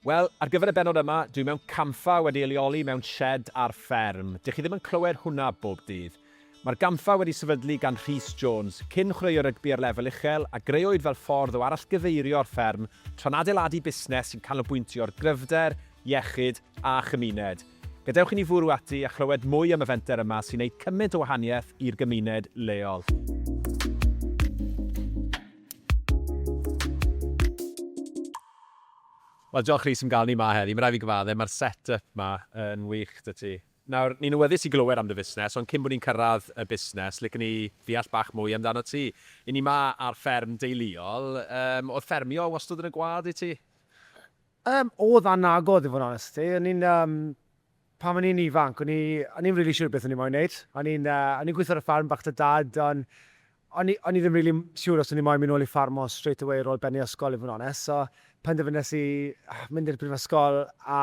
Wel, ar gyfer y bennod yma, dwi mewn campfa wedi ei leoli mewn sied ar fferm. Dych chi ddim yn clywed hwnna bob dydd. Mae'r gampfa wedi sefydlu gan Rhys Jones, cyn chwaraewr rygbi ar lefel uchel, a grëwyd fel ffordd o arallgyfeirio'r fferm tra'n adeiladu busnes sy'n canolbwyntio ar gryfder, iechyd a chymuned. Gadewch i ni fwrw ati a chlywed mwy am y fenter yma sy'n neud cymaint o wahaniaeth i'r gymuned leol. Wel, diolch Rhys am gael ni 'ma heddi. Mae'n rhaid fi gyfaddef, mae'r set-up 'ma yn wych 'da ti. Nawr, ni'n awyddus i glywed am dy fusnes, ond cyn bod ni'n cyrraedd y busnes, licen ni ddeall bach mwy amdanot ti. Y'n ni 'ma ar fferm deuluol, yym, oedd ffermio wastad yn y gwaed i ti? Yym, oedd a nag oedd i fod yn onest 'da ti. O'n i'n, yym, Pan o'n i'n ifanc, o'n i o'n i'm rili siŵr beth o'n i moyn neud. O'n i'n yy o'n i'n gwitho ar y ffarm bach 'da Dad, on' o'n i o'n i ddim rili siŵr os o'n i moyn myn' nôl i ffarmo straight away ar ôl bennu ysgol i fod yn onest, so penderfynes i mynd i'r brifysgol a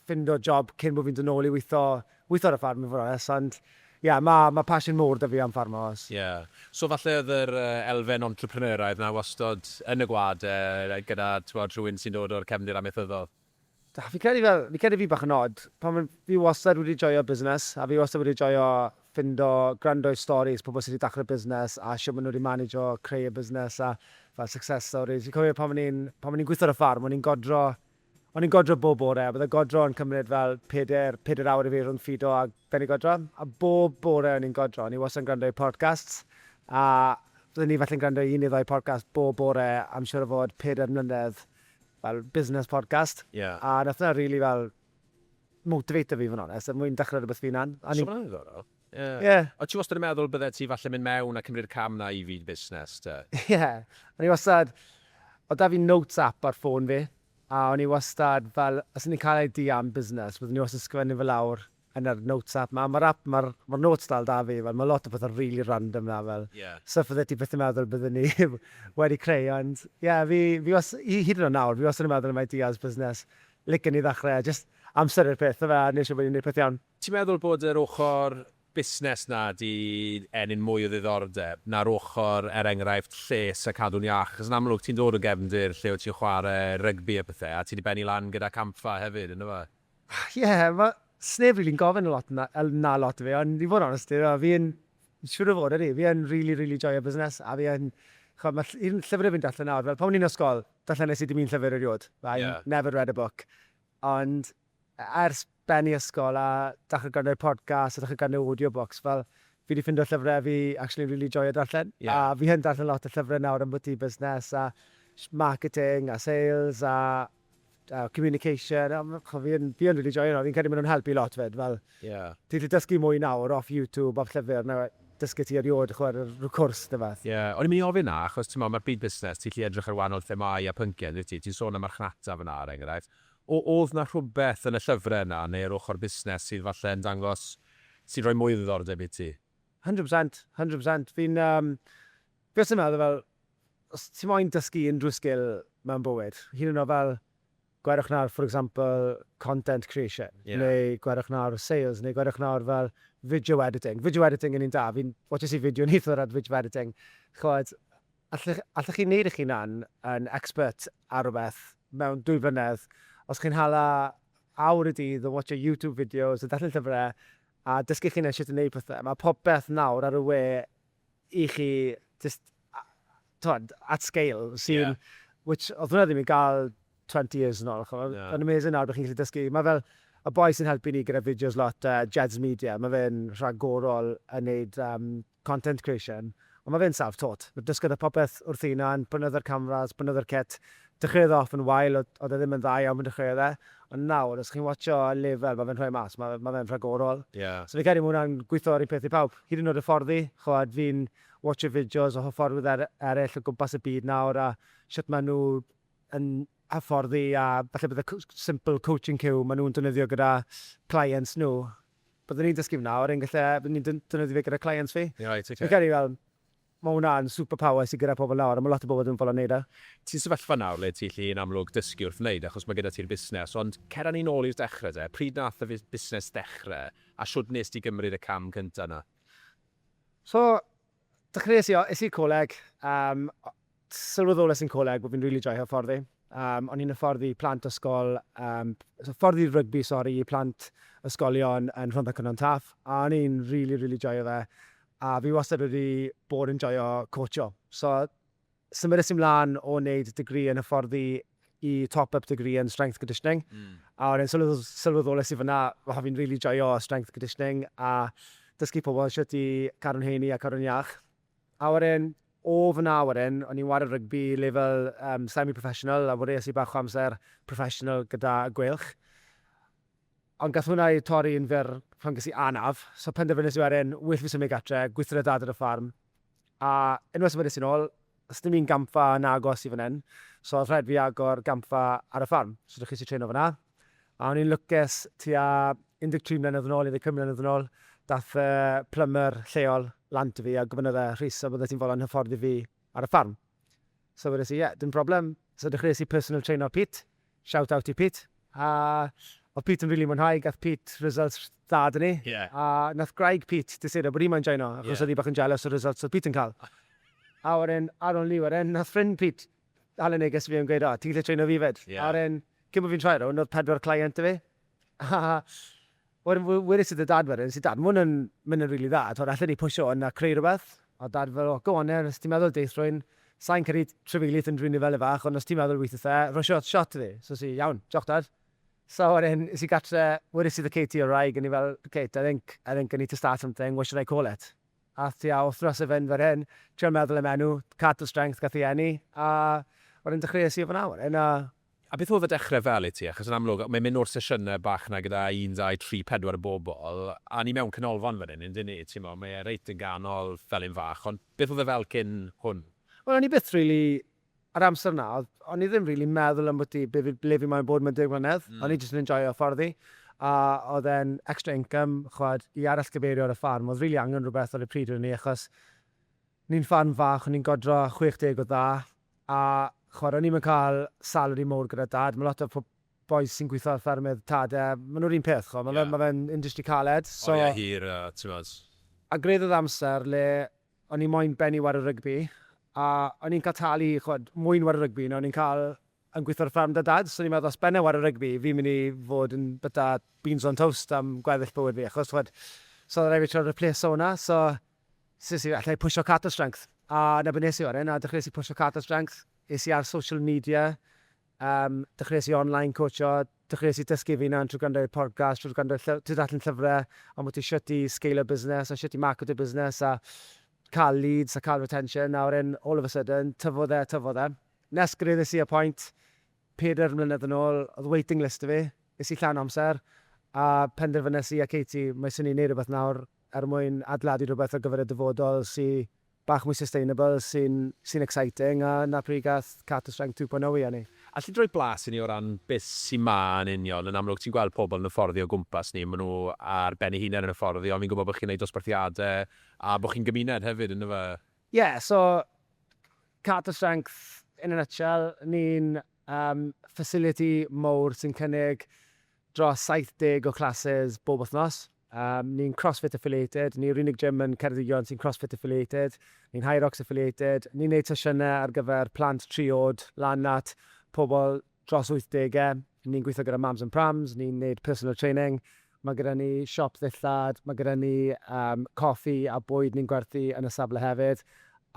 ffindo job cyn bo' fi'n do' nôl i witho witho ar y ffarm i fod yn onest, ond ie ma' ma' passion mowr 'da fi am ffarmo os Ie. So falle o'dd yr yy elfen entrepreneuraidd 'na wastod yn y gwlad yy gyda t'mod rhywun sy'n dod o'r cefndir amaethyddol? Da, fi'n credu fel, fi'n credu fi bach yn od, pan fi'n, fi wastad wedi joio busnes, a fi wastad wedi joio ffindo, gwrando i storis pobl sy wedi dechrau busnes, a shwt maen nhw wedi manegio creu y busnes, a fel success stories. Fi'n cofio pan o'n i'n, pan o'n i'n gweithio ar y ffarm, o'n i'n godro, o'n i'n godro bob bore, a bydde godro yn cymryd fel peder, peder awr i fi rhwng ffido a bennu godro, a bob bore o'n i'n godro, o'n i wastad yn gwrando i podcasts, a bydden ni falle'n gwrando i un neu ddau podcast bob bore am siŵr o fod peder mlynedd, fel business podcast. Ie. A nath hwnna rili fel motivato fi fod yn onest, er mwyn dechrau rhywbeth fy hunan. A o'n i'n... So ma'n ddiddorol. Ie. Ie. O't ti wastad yn meddwl byddet ti falle mynd mewn a cymryd y cam 'na i fyd busnes te? Ie. O'n i wastad... Oedd 'da fi notes app ar ffôn fi, a o'n i wastad fel, os o'n i'n cael idea am busnes, byddwn i wastad yn sgrifennu fe lawr yn yr notes app ma ma'r app ma'r ma'r notes dal da fi fel ma lot o pethe rili random na fel Ie. stwff fydde ti byth yn meddwl bydden ni wedi creu ond ie fi fi was- i hyd yn oed nawr fi wastad yn meddwl am ideas busnes licen i ddechre a jyst amser yw'r peth yfe a neu' siŵr bo' ni'n neud peth iawn. Ti'n meddwl bod yr ochor busnes na 'di ennyn mwy o ddiddordeb na'r ochor er enghraifft lles a cadw'n iach achos yn amlwg ti'n dod o gefndir lle wyt ti'n chware rygbi a pethe a ti 'di bennu lan gyda campfa hefyd yndyfe? Ie, mae... sneb rili'n gofyn y lot 'na, yy, 'na lot i fi, ond i fod yn onest i fi, fi yn, siŵr o fod, ydi, fi yn rili, rili joio busnes, a fi yn, ch'mod, ma' ll- un llyfr 'da fi'n darllen nawr, fel pan o'n i'n ysgol, darllenes i dim un llyfr eriod, I Ie. never read a book, ond e- ers bennu ysgol a dechre gwrando ar podcasts a dechre gwrando ar audio books, fel, fi 'di ffindo llyfre fi actually'n rili joio darllen, Ie. a fi yn darllen lot o llyfre nawr ambwti busnes a sh- marketing a sales a Fel communication, a ma', ch'mo' fi yn, fi yn rili joio nhw, fi'n credu ma' nhw'n helpu lot 'fyd, fel... Ie. ...ti 'llu dysgu mwy nawr off YouTube, off llyfr, na dysgu ti eriôd, ch'mo' ar yr, rw cwrs ne' wbath. Ie, o'n i'n mynd i ofyn 'na, achos t'mo' ma'r byd busnes, ti 'llu edrych ar wahanol themâu a phynciau, yndwyt ti? Ti'n sôn am marchnata fan'na, er enghraifft. O- o'dd 'na rhwbeth yn y llyfre yna, neu yr ochr busnes, sydd falle yn dangos, sy'n rhoi mwy o ddiddordeb i ti? Hundred percent, hundred percent. Fi'n yym, Fi wastad yn meddwl fel, os ti moyn dysgu unrhyw sgil mewn bywyd, hyd yn oed fel, gwerwch nawr for example content creation, neu gwerwch nawr sales, neu gwerwch nawr fel video editing. Video editing yn un da, fi'n watches i fideo neithiwr ar video editing, chimod, alle, allech chi wneud eich hunan yn expert ar rywbeth mewn dwy flynedd, os chi'n hala awr y dydd o watsio YouTube videos, o darllen llyfrau, a dysgu'ch hunan shwt i wneud pethau. Mae popeth nawr ar y we i chi jyst, t'mod, at scale sy'n... which, oedd hwnna ddim i gael 20 years yn ôl, chimod. Mae'n amazing nawr bod chi'n gallu dysgu. Mae fel, y boi sy'n helpu ni gyda fideos lot, Jeds Media, mae fe'n rhagorol yn wneud content creation, ond mae fe'n self-taught. Dysgodd e popeth wrth ei hunan, prynodd e'r cameras, prynodd e'r kit, Dechreuodd e off yn wael, oedd e ddim yn dda iawn pan dechreuodd e, ond nawr os chi'n watsio ar lefel ma' fe'n rhoi mas, ma' ma' fe'n rhagorol. Ie. So fi'n credu ma' hwnna'n gwitho yr un peth i pawb, hyd yn oed hyfforddi, ch'mod fi'n watsio fideos o hyfforddwyr er- eryll o gwmpas y byd nawr a shwt ma' nhw yn hyfforddi a falle bydde co- simple coaching cue ma' nhw'n defnyddio gyda clients nhw, byddwn i'n dysgu fe nawr yn gelle byddwn i'n d- defnyddio fe gyda clients fi. Reit, ocê. Fi'n credu fel Mae hwnna'n super power sy'n gyda pobl nawr a mae lot o bobl ddim yn fodlon neud e. Ti'n sefyllfa nawr le ti allu yn amlwg dysgu wrth wneud achos mae gyda ti'r busnes ond cer â ni nôl i'r dechrau de, pryd nath y busnes ddechrau a shwd wnest ti gymryd y cam cyntaf 'na? So, dechreuais i, es i'r coleg, yym, sylweddolais i'n coleg bod fi'n rili joio hyfforddi, yym, o'n i'n hyfforddi plant ysgol, yym, hyfforddi rygbi sori i plant ysgolion yn Rhondda Cynon Taf a o'n i'n rili rili joio fe a fi wastad wedi bod yn joio coatsio. So, symudais i mlaen o wneud degree yn hyfforddi i top-up degree yn strength conditioning. Mm. A wedyn sylwedd, sylweddolais i fyna, waha fi'n really joio strength conditioning a dysgu pobl sut i cadw'n heini a cadw'n iach. A wedyn, o fyna wedyn, o'n i'n wario rygbi lefel um, semi-professional a fwriais i bach o amser professional gyda Gweilch. Ond gath hwnna ei torri yn fyr pan ges i anaf, so penderfynes i wedyn, well fi symud gartre, gweithred Dad ar y ffarm. A unwaith symudais i nôl, does dim un gampfa yn agos i fan hyn, so oedd rhaid fi agor gampfa ar y ffarm, so dechreuais i treno fan'na. A o'n i'n lwcus, tua 13 mlynedd yn ôl, 15 mlynedd yn ôl, dath y plymyr lleol lan 'da fi a gofynnodd e, Rhys, a fyddet ti'n fodlon hyfforddi fi ar y ffarm. So wedes i, ie, dim problem. So dechreuais i personal traino Pete, shout out i Pete, a oedd Pete yn rili mwynhau, gath Pete results dda 'da ni. Ie. A nath gwraig Pete disuro bod hi moyn joino, achos... Ie. ...oedd hi bach yn jealous o'r results oedd Pete yn cael. A wedyn, ar ôl 'ny wedyn, nath ffrind Pete hala neges i fi yn gweud, o, ti'n gallu traino fi 'fyd? Ie. A wedyn, cyn bo' fi'n troi rownd, oedd pedwar client 'da fi, a Wedyn wedes i 'da Dad wedyn, es i, 'Dad, ma' hwn yn mynd yn rili dda, t'mod, allen ni pwsio hwn a creu rwbeth? A Dad fel, 'O, go on then, os ti'n meddwl deith rhywun, sai'n credu trafeilith yn rili fel 'e fach, ond os ti'n meddwl weithith e, rhoi shot shot i fi. So es i, 'Iawn, diolch Dad. So wedyn es i gartre, wedes i 'da Katie o'r wraig, o'n i fel, 'Kate, I think, I think I need to start something, what should I call it? Ath tua wthnos i fynd fel hyn, trial meddwl am enw, Cato Strength gath ei eni, a wedyn dechreues i o fan'na wedyn, a A beth oedd y dechrau fel i ti? Achos yn amlwg, mae'n mynd o'r sesiynau bach 'na gyda un, dau, tri, pedwar o bobl, a ni mewn canolfan fan hyn, yn dŷn ni, timod, mae e reit yn ganol, fel un fach, ond beth oedd e fel cyn hwn? Wel, o'n i byth rili, yr amser 'na, o'n i ddim rili meddwl ambwti be fi, ble fi moyn bod mewn deg mlynedd, o'n i jyst yn enjoio hyfforddi, a oedd e'n extra income, ch'mod, i arallgyfeirio ar y ffarm, oedd rili angen rhywbeth ar y pryd o'n i, achos, Ni'n ffarm fach, o'n ni'n godro 60 o dda, a ch'mod o'n ni'm yn cael salary mowr gyda Dad, ma' lot o po- bois sy'n gwitho ar ffermydd Tad e, ma' nw'r un peth ch'mod, ma' fe ma' fe'n industry caled, so... Oriau hir a t'mod. A gwraidd o'dd amser le o'n i moyn bennu ware rygbi, a o'n i'n cael talu ch'mod mwy yn ware rygbi na o'n i'n cael yn gwitho ar fferm 'da Dad, so o'n i'n meddwl os benna i ware rygbi fi'n myn' i fod yn byta beans on toast am gweddill bywyd fi, achos ch'mod so o'dd raid fi trio ripleso wnna, so Ces i, alla i pwsio Carter Strength. A 'na be nes i wedyn, a dechreuais i pwsio Carter Strength. Es i ar social media, yym, dechreuais i online coatsio, dechreuais i dysgu fy hunan trwy gwrando i'r podcast, trwy gwrando lly-, trwy ddarllen llyfrau ambwti shwt i sgeilio busnes a shwt i marketo busnes a cael leads a cael retention, a wedyn all of a sudden, tyfodd e a tyfodd e. Nes gyrraeddes i y pwynt, pedair mlynedd yn ôl, oedd waiting list 'da fi, es i llawn amser, a penderfynes i a Katie, mae swn i'n neud rhywbeth nawr er mwyn adeiladu rhywbeth ar gyfer y dyfodol sy bach mwy sustainable, sy'n sy'n exciting, a 'na pryd gath Carter Strength 2.0 ei eni. Alli di roi blas i ni o ran beth sy 'ma yn union? Yn amlwg ti'n gweld pobl yn y fforddio o gwmpas ni, maen nhw ar ben eu hunain yn y fforddio, ond fi'n gwybod bod chi'n wneud dosbarthiadau a bod chi'n gymuned hefyd, yndyfe? Ie, so Carter Strength in a nutshell, ni'n Am fasiliti mawr sy'n cynnig dros 70 o classes bob wythnos. Ni'n Crossfit Affiliated, ni yw'r unig gym yn Ceredigion sy'n Crossfit Affiliated. Ni'n Hyrox Affiliated. Ni'n neud sesiynau ar gyfer plant tri oed lan at pobl dros wythdegau. Ni'n gweithio gyda Mams and Prams, ni'n neud personal training Mae gyda ni siop ddillad, mae gyda ni yym coffi a bwyd ni'n gwerthu yn y safle hefyd,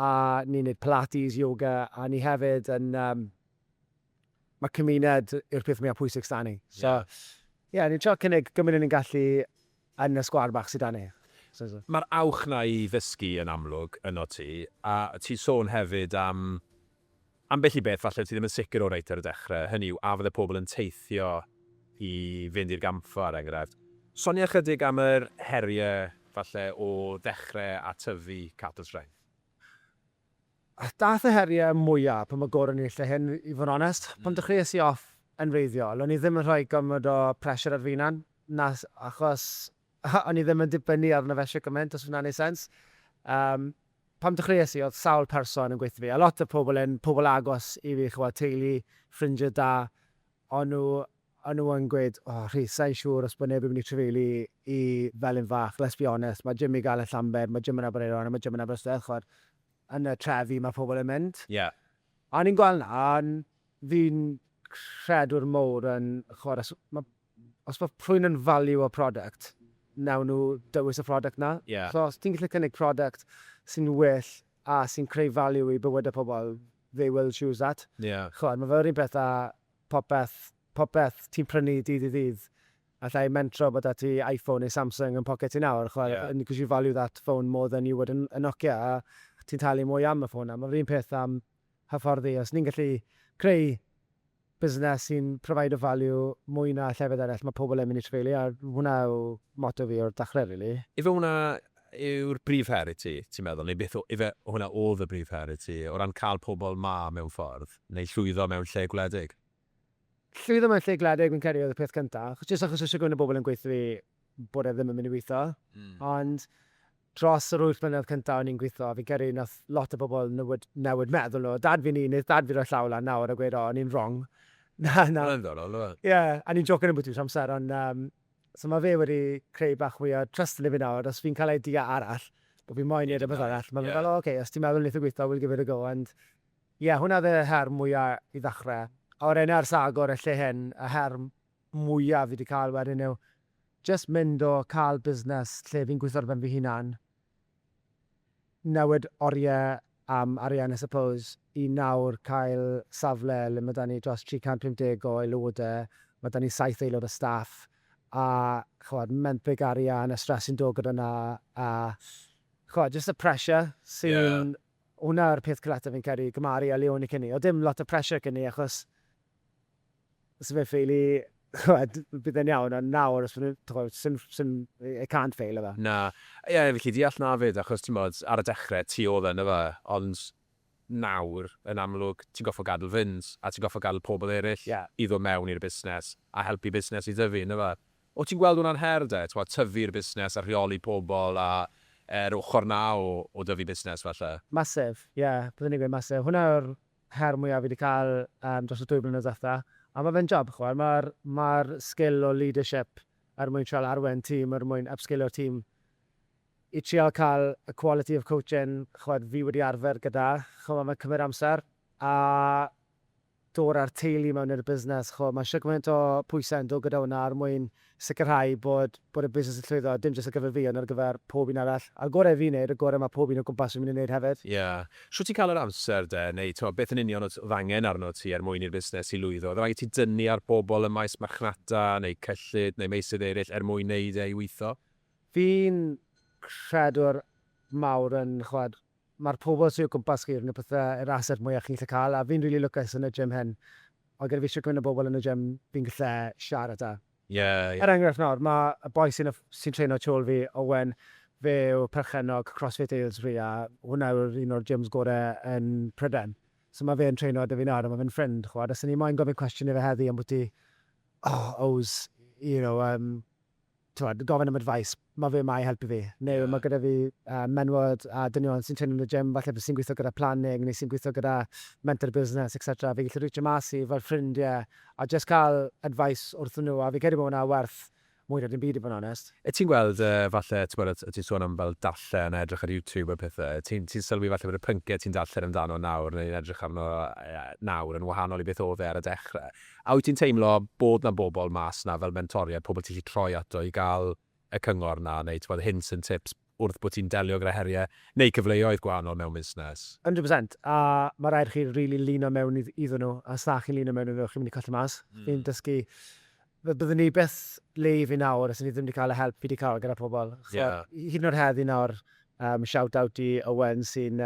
a ni'n neud pilates, yoga, a ni hefyd yn yym ma' cymuned yw'r peth mwya pwysig s'da ni. So ie, ni'n trio cynnig gymint â ni'n gallu yn y sgwâr bach sy 'da ni. Mae'r awch 'na i ddysgu yn amlwg yno ti, a ti'n sôn hefyd am Ambell i beth falle wyt ti ddim yn sicr o reit ar y dechrau, hynny yw, a fydde pobl yn teithio i fynd i'r gampfa, er enghraifft. Sonia ychydig am yr heriau falle o ddechrau a tyfu catws ffraeth. Daeth y heriau mwyaf pan mae goron yn ei lle hŷn, i fod yn onest. Pan dechreuais i off yn wreiddiol, o'n i ddim yn rhoi gormod o pressure ar fy hunan, na, achos Aha, o'n i ddim yn dibynnu arno fe shwt gymaint, os hwnna'n neud sens. Yym, pan dechreues i, oedd sawl person yn gweithio 'da fi, a lot o'r pobl yn pobl agos i fi, ch'mod, teulu, ffrindie da, o'n nhw, o'n nhw yn gweud, O, Rhys, sa i'n siŵr os bod neb yn mynd i trafeilu i Felin Fach, let's be honest, mae gym i gael yn Llambed, mae gym yn Aberaeron a mae gym yn Aberystwyth, ch'mod, yn y trefi mae pobl yn mynd. Ie. A o'n i'n gweld 'na, a fi'n credwr mowr yn, ch'mod, os ma' Os mae rhywun yn value-o product, wnawn nhw dewis y product 'na. Ie. So os ti'n gallu cynnig product sy'n well a sy'n creu value i bywydau pobl, they will choose that. Ie. Chimod, mae fe'r un peth â popeth, popeth ti'n prynu dydd i ddydd, alla i mentro bod 'da ti Iphone neu Samsung yn poced ti nawr, chimod. Ie. And because you value that phone more than you would a a Nokia, a ti'n talu mwy am y ffôn 'na. Mae'r un peth am hyfforddi. Os ni'n gallu creu busnes sy'n provido value mwy na llefydd eraill mae pobl yn mynd i trefeili a hwnna yw motto fi o'r dachrau rili. Ife hwnna yw'r brif her i ti, ti'n meddwl, neu beth o- ife hwnna oedd y brif her i ti o ran cael pobl 'ma mewn ffordd, neu llwyddo mewn lle gwledig? Llwyddo mewn lle gwledig fi'n credu oedd y peth cyntaf, achos jyst achos oedd shwt gymaint o bobl yn gweutho fi bod e ddim yn mynd i weithio, ond Dros yr wyth mlynedd cynta o'n i'n gwitho, fi'n credu nath lot o bobl newid newid meddwl nhw. Dad fi'n un, neith dad fi roi llaw lan nawr a gweud o o'n i'n wrong. Na na. Ma'n ddiddorol yw e? Ie, a ni'n jôcyn ambwti'r amser ond yym so ma' fe wedi creu bach mwy o trust ynddo fi nawr, os fi'n cael idea arall bo' fi moyn neud rwbeth arall, ma' fe fel o ok, os ti'n meddwl neith e gwitho we'll give it a go ond ie, hwnna oedd y her mwya i ddechre. A wedyn ers agor y lle hyn, y her mwya fi 'di cael wedyn yw jyst mynd o cael busnes lle fi'n gwitho ar ben fy hunan, newid orie am arian I suppose, i nawr cael safle le ma' 'da ni dros 350 o aelode, ma' 'da ni saith aelod o staff, a ch'mod menthyg arian a stress sy'n dod gyda 'na a ch'mod jyst y pressure sy'n... Hwnna yw'r peth cletach fi'n credu, gymharu â le o'n i cyn 'ny. O'dd dim lot o pressure cyn 'ny achos Os ife fail i, ch'mod, bydd e'n iawn, ond nawr os ma' n'w, ch'mod, sim, sim, it can't fail yfe? Na. Ie, fi'n gallu deall 'na 'fyd, achos t'mod, ar y dechre, ti o'dd e, yndyfe? Ond nawr, yn amlwg, ti'n gorffod gadl fynd, a ti'n gorffod gadl pobl eryll i ddod mewn i'r busnes, a helpu busnes i dyfu, yndyfe? O' ti'n gweld hwnna'n her 'de, t'mod, tyfu'r busnes a rheoli pobl a, yr ochor 'na o dyfu busnes, falle? Massive, ie, byddwn i'n gweud massive. Hwnna yw'r her mwya fi 'di ca'l yym dros y dwy flynedd dwetha. A ma' fe'n job ch'mod ma'r ma'r sgil o leadership er mwyn trial arwen tîm er mwyn ypsgilio'r tîm i trial ca'l y quality of coaching ch'mod fi wedi arfer gyda ch'mo' ma'n cymryd amser a dod â'r teulu mewn i'r busnes ch'mo' ma' shwt gymaint o pwyse'n dod gyda hwnna er mwyn sicrhau bod bod y busnes yn llwyddo, dim jyst ar gyfer fi ond ar gyfer pob un arall, a'r gorau fi'n neud, y gore mae pob un o gwmpas fi'n mynd i neud hefyd. Ie. Shwt ti'n cael yr amser de, neu t'mo, beth yn union odd odd angen arnot ti er mwyn i'r busnes i lwyddo? Odd raid ti dynnu ar bobl ym maes marchnata, neu cyllid, neu meysydd eryll er mwyn neud e i weitho? Fi'n credwr mawr yn ch'mod, Mae'r pobl sy o gwmpas chi yn y pethe, yr asset mwya chi'n gallu cael a fi'n rili lwcus yn y gym hyn. Mae gyda fi shwt gymaint o bobl yn y gym fi'n gallu siarad â. Ie, ie. Er enghraifft nawr, mae y boi sy'n sy'n treino tu ôl fi, Owen, fe yw perchennog Crossfit Aylesbury a hwnna yw'r un o'r gyms gore yn Prydain. So mae fe'n treino 'da fi nawr a mae fe'n ffrind, ch'mod, a 'sen i moyn gofyn cwestiwn i fe heddi ambwti, oh, owes, you know, yym, T'mod, gofyn am advice, ma' fe 'ma i helpu fi. Neu ma' gyda fi menywod a dynion sy'n treinio yn y gym falle sy'n gweithio gyda planning neu sy'n gweithio gyda mentor business etc. Fi'n gallu rîtchio mas i fel ffrindie a jyst cael advice wrthyn nhw a fi'n credu bod hwnna werth mwy na dim byd i fod yn onest. Wyt ti'n gweld falle, t'mod, o't ti'n sôn am fel darllen a edrych ar YouTube a pethe, ti'n ti'n sylwi falle bod y pyncie ti'n darllen amdano nawr neu'n edrych arno nawr yn wahanol i beth o'dd e ar y dechre? A wyt ti'n teimlo bod 'na bobl mas 'na fel mentoriaid, pobl ti'n gallu troi ato i gael y cyngor 'na neu tibod hints and tips wrth bod ti'n delio gyda heriau neu cyfleoedd gwahanol mewn busnes? Hundred percent, a ma' raid i chi rili lino mewn iddyn nhw, a os na chi'n lino mewn iddyn nhw, chi'n mynd i colli mas. Fi'n dysgu, byddwn ni byth le i fi nawr os o'n i ddim wedi cael y help fi wedi cael gyda pobl. Ch'mod, hyd yn oed heddi nawr, shout out i Owen sy'n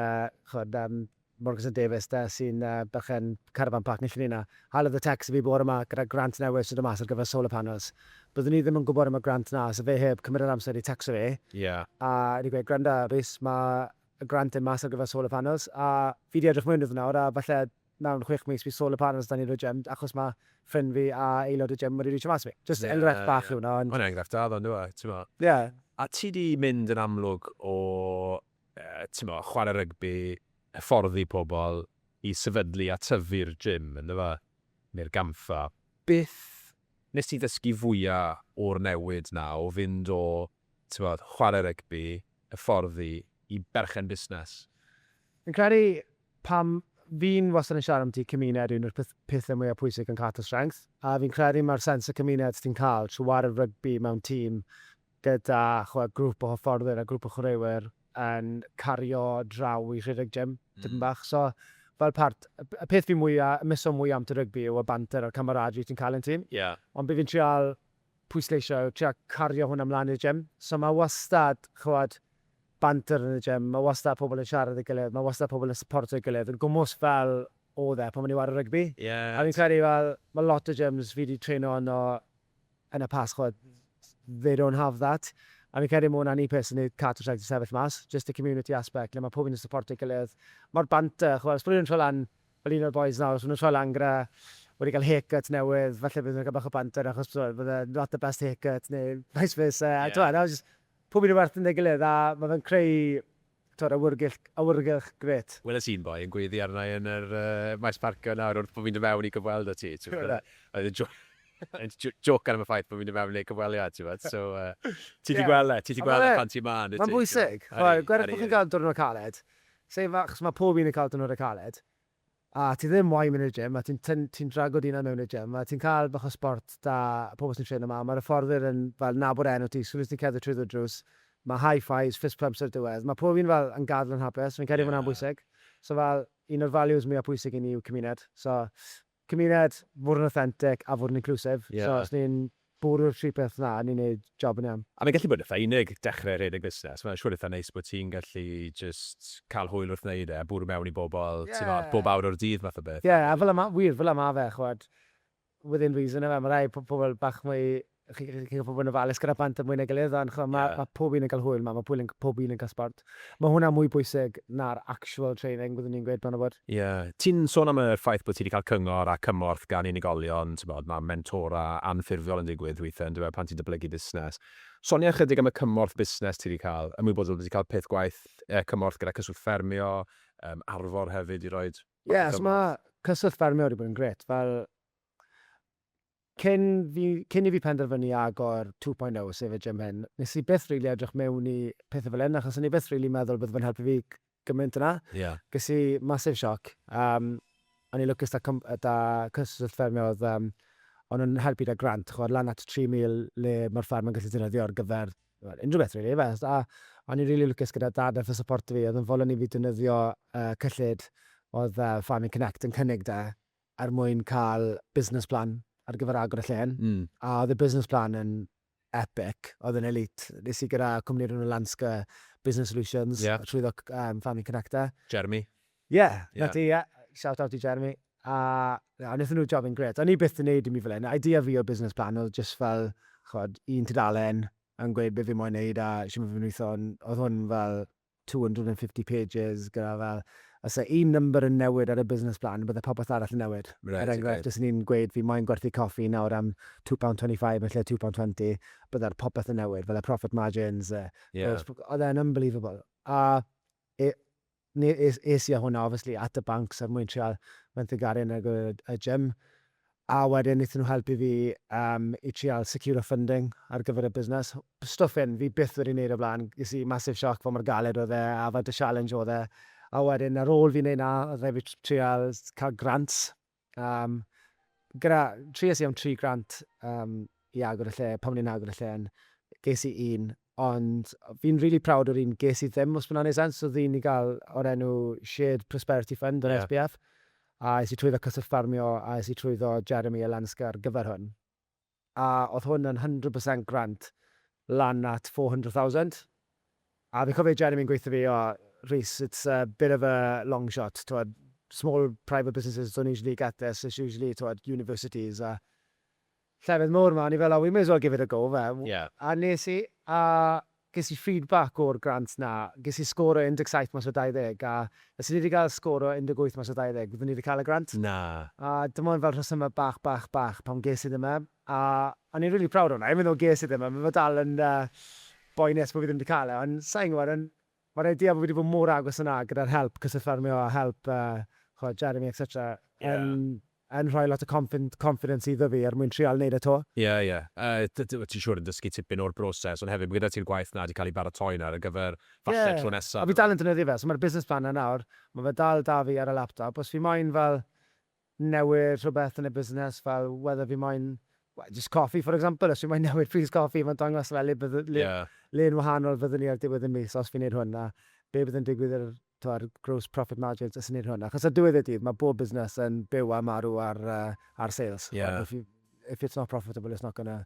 ch'mod, Morgans a Davies de, sy'n berchen carafan parc Nillyn Nina, halodd y tecst i fi bore 'ma gyda grant newydd sy'n dod mas ar gyfer solar panels. Byddwn i ddim yn gwybod am y grant 'na 'sa fe heb cymryd yr amser i tecsto fi, a wedi gweud, 'Gwranda, Rhys, mae y grant yn mas ar gyfer solar panels, a fi 'di edrych mewn iddo fe nawr, a falle mewn chwech mis bydd solar panels 'da ni yn y gym, achos mae ffrind fi a aelod y gym wedi rîtio mas i fi. Jyst enghraifft bach yw hwnna, ond... Mae'n enghraifft da ddo, yndyw e, timod. Ie. A ti 'di mynd yn amlwg o timod, chwarae rygbi, hyfforddi pobl i sefydlu a tyfu'r gym, yn dyfe? Neu'r gampfa. Beth wnest ti ddysgu fwya o'r newid 'na o fynd o, timod, chwarae rygbi, hyfforddi, i berchen busnes? Fi'n credu, pan fi'n wastad yn siarad ambyti cymuned un o'r pethau mwya pwysig yn Carter Strength, a fi'n credu mae'r sense o cymuned ti'n cael trwy ware rygbi mewn tîm, gyda chwa grŵp o hyfforddwyr a grŵp o chwaraewyr yn cario draw i rhedeg gym tipyn bach. So, fel part, y peth fi mwya, y myso mwya am tŷ rygbi yw y banter a'r camaraderie ti'n cael yn tîm. Ie. Ond be fi'n trial pwysleisio yw trial cario hwnna mlan i'r gym. So ma' wastad, ch'mod, banter yn y gym, ma' wastad pobl yn siarad 'da'i gilydd, ma' wastad pobl yn syportio'i gilydd, yn gwmws fel o'dd e pan o'n i'n ware rygbi. Ie. A fi'n credu fel, ma' lot o gyms fi 'di treinio arno yn y Pasg ch'mod they don't have that a fi'n credu ma' hwnna'n un peth sy'n neud Carter Saithdrws sefyll mas, jyst y community aspect le ma' pob un yn supportio'i gilydd, ma'r banter ch'mod os bo' rywun yn troi lan fel un o'r bois nawr os ma' nw'n troi lan gyda wedi ga'l haircut newydd falle bydd nw'n ga'l bach o banter achos t'mod bydd e not the best haircut neu vice versa a t'mod a jyst pob un yn werth fynd a'i gilydd a ma' fe'n creu Twr awyrgylch, awyrgylch, grêt. Wel oes un boi yn gweddu arna i yn yr yy maes parcio nawr wrth bo fi'n dod mewn i gyfweld â ti t'mod a oedd e'n jôc yn j- jocan am y ffaith bo fi'n dod mewn i neud cyfweliad t'mod so yy ti 'di gweld e ti 'di gweld e pan ti 'ma yndwyt ti? Ma'n bwysig ch'mod gweud wrth bo chi'n ga'l diwrnod caled, sai'n fa- achos ma' pob un yn ca'l diwrnode caled, A ti ddim moyn mynd i'r gym a ti'n tyn- ti'n drago dy hunan mewn i'r gym a ti'n cael bach o sbort 'da pobl sy'n treno 'ma a ma'r hyfforddwyr yn fel nabod enw ti, soon as ti'n cerdded trwyddo'r drws ma' high fives, fist pumps ar y diwedd. Ma' pob un fel yn gadl yn hapus, fi'n credu ma' wnna'n bwysig. So fel, un o'r values mwya pwysig i ni yw cymuned. So cymuned, fod yn authentic a fod yn inclusive. So os ni'n Bwrw'r tri peth 'na a ni'n neud job yn iawn. A mae'n gallu bod yn eitha unig dechrau rhedeg busnes, mae'n siŵr eitha neis bod ti'n gallu jyst cael hwyl wrth wneud e a bwrw mewn i bobl ti'n weld bob awr o'r dydd math o beth. Ie, a fel 'na ma', wir, fel 'na ma' fe, ch'mod, within reason yfe, ma' rhai po- pobl bach mwy, chi- chi'n gallu bod yn ofalus gyda plant a mwy na'i gilydd ond ch'mod ma', ma' pob un yn cael hwyl 'ma, ma' pob un yn, pob un yn cael sbort. Mae hwnna mwy pwysig na'r actual training, byddwn i'n gweud, bron a bod. Ie. Ti'n sôn am y ffaith bod ti 'di cael cyngor a cymorth gan unigolion, tibod, mae mentora anffurfiol yn digwydd weithiau yn dyw e pan ti'n datblygu busnes. Sonia ychydig am y cymorth busnes ti 'di cael, ymwybodol bod ti 'di cael peth gwaith, yy cymorth gyda Cyswllt Ffermio, yym Arfor hefyd i roi bach o gymorth. Ie, so mae Cyswllt Ffermio wedi bod yn grêt, fel Cyn fi, cyn i fi penderfynu agor two point oh, sef y gym hyn, nes i byth rili edrych mewn i pethe fel hyn, achos o'n i byth rili meddwl bydde fe'n helpu fi gymaint yna. Ie. Ges i massive shock. Yym, o'n i'n lwcus 'da cwmp- yy 'da cyswllt ffermio o'dd yym o'n nhw'n helpu 'da grant, ch'mod, lan at tri mil le ma'r fferm yn gallu defnyddio ar gyfer, wel, unrhyw beth rili, ife? A o'n i'n rili lwcus gyda dad nath e syporto fi, o'dd yn fodlon i fi defnyddio yy cyllid o'dd yy Farming Connect yn cynnig 'da er mwyn cael business plan ar gyfer agor y llên, a oedd y business plan yn epic, oedd yn elite. Nes i gyda cwmni'r enw Lanska Business Solutions, trwyddo Family Connector. Jeremy. Ie, 'na ti, ie. Shout out i Jeremy. A wnaethon nhw jobyn grêt. O'n i byth 'di wneud un fi fel hyn. Idea fi o'r business plan oedd jyst fel, chimod, un tudalen yn gweud be fi moyn wneud a shwt ma fe'n weithio, ond oedd hwn fel 250 pages gyda fel, os yw un number yn newid ar y business plan, bydde popeth arall yn newid. Er enghraifft, os o'n i'n gweud fi moyn gwerthu coffi nawr am £2.25 yn lle £2.20, bydde'r popeth yn newid, fel y profit margins, y... Ie. Oedd e'n unbelievable. A e- ne- es- es i â hwnna obviously at y banc, so er mwyn trial fenthyg arian ar gyfer y gym. A wedyn wnaethon nhw helpu fi yym i trial securo funding ar gyfer y busnes. Stwff hyn fi byth wedi wneud o'r blaen. Ges i massive shock fel mor galed oedd e a faint o challenge oedd e. A wedyn ar ôl fi wneud 'na oedd rhaid fi tr- trial s- cael grant. Yym gyda... Tries i am tri grant yym i agor y lle, pan o'n i'n agor y lle, ges i un, ond fi'n rili proud o'r un ges i ddim, os ma hwnna'n 'neud sense. O'dd un i ga'l o'r enw Shared Prosperity Fund o'r SPF, a es i trwyddo Cyswllt Ffarmio a es i trwyddo Jeremy a Lenska ar gyfer hwn. A o'dd hwn yn hundred percent grant lan at four hundred thousand. A fi'n cofio Jeremy'n gweutho fi, O, Rhys, it's a bit of a long shot, t'mod, small private businesses don't usually get this, it's usually, t'mod, universities a llefydd mowr 'ma, o'n i fel oh we may as well give it a go fe, a wnes i, a ges i feedback o'r grant 'na, ges i sgôr o 17 mas o 20, a os o'n i 'di cael sgôr o 18 mas o 20, byddwn i 'di cael y grant? Na. A dim ond fel rhesymau bach, bach, bach pam ges i ddim e, a o'n i'n rili proud o hwnna, even though ges i ddim e, mae fe dal yn boenus bod fi ddim 'di cael e, ond sa i'n gwybod, Mae rhaid ti a fi wedi bod mor agos yna gyda'r help, cyswllt ffermio a help, chimod, Jeremy etc, yn, yn rhoi lot o confin- confidence iddo fi er mwyn trial neud e 'to. Ie, ie. Yy, t- ti'n siŵr yn dysgu tipyn o'r broses, ond hefyd mae gyda ti'r gwaith 'na 'di cael ei baratoi nawr ar gyfer falle y tro nesa. Ie, a fi dal yn defnyddio fe, so mae'r business plan 'na nawr, mae fe dal 'da fi ar y laptop, os fi moyn fel newid rhywbeth yn y busnes fel whether fi moyn wel jyst coffi for example os fi moyn newid pris coffi ma'n dangos fel le bydde- le Ie. le'n wahanol fyddwn ni ar diwedd y mis os fi'n neud hwn a be' bydd yn digwydd i'r t'mod gross profit margins os fi'n neud hwn achos ar diwedd y dydd ma' bob busnes yn byw a marw ar yy ar sales Ie. ch'mod if you if it's not profitable it's not gonna